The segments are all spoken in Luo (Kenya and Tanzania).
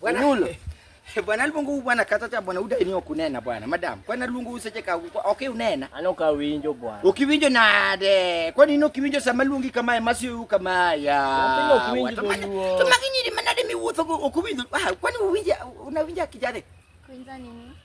Bwana Nulo. Bwana luongo bwana kata cha bwana uda ni okunena bwana madam. Kwana luongo useche ka okay unena. Ano ka winjo bwana. Ukiwinjo nade? Kwani ino kiwinjo sama luongi kama e masi yu kama ya. Mpinga ukiwinjo luo. Tuma kinyiri manade mi wuotho ukiwinjo. Ah kwani uwinja unawinja kijade? Kuinza nini?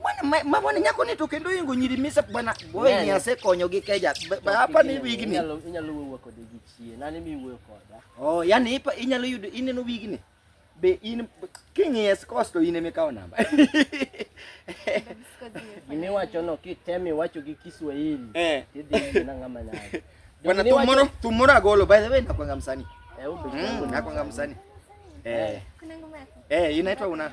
Bwana mabwana nyako ni to kendo ingo nyiri misa bwana boy ni ase konyo gi keja. Hapa ni wigi ni. Inyalo inyalo wuo kod gi chie. Nani mi wuo koda. Oh, yani ipa inyalo yudo ineno wigi ni. Be in king yes cost in eme kawo namba. Mimi wacho no kitemi wacho gi Kiswahili. Eh. Idhi na ngama na. Bwana tumoro tumoro agolo by the way nakwanga msanii. Eh, ubi. Mm, nakwanga msanii. Eh. Kuna ngoma yako. Eh, inaitwa una.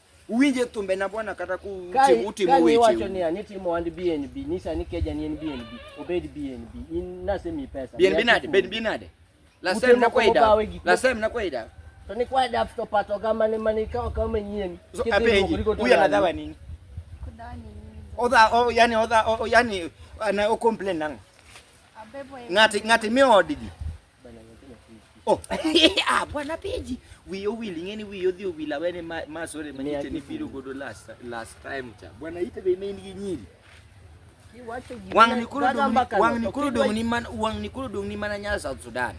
Uwinje thumbe na bwana kata ku utimo weche. Ka wacho ni ani timo and BNB, nyisa ni keja ni en BNB, obed BNB. In nasemi pesa. BNB nade? BNB nade? La sem na kwaida. La sem na kwaida. To ni kwaida afto pato kama ni mani kao kama nyien. So apeji. Huyu anadhawa nini? Kudawa nini? Oda o yani oda o yani ana o complain nang. Abebo. Ngati ngati mi odigi. Oh, ah, bwana Peji, wiyo wili ngeni wiyo dhi owila wene ma sore ma nite ni biro godo last last time cha. Bwana ite be main gi nyiri. Wang ni kuro dong wang ni kuro dong ni man wang ni kuro dong ni mana nya South Sudan.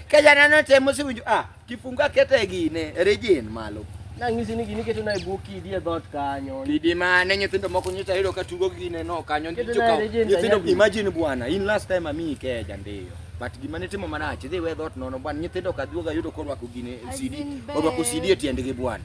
Kaya nano temo si winjo ah. Kifunga kete gine rejin malo. Nang'isi ni gini keto na e bwo kidi e dhot kanyo. Kidi mane nyithindo moko nyocha yudo ka tugo gine no kanyo Keto nyocha na ka- rejin nyithindo kanyagi. imagine bwana in last time ami ikeja ndiyo. But gima ne timo marach idhi we dhot nono bwana nyithindo ka duoga yudo korwako gine As CD in orwako bed. CD e tiendgi bwana.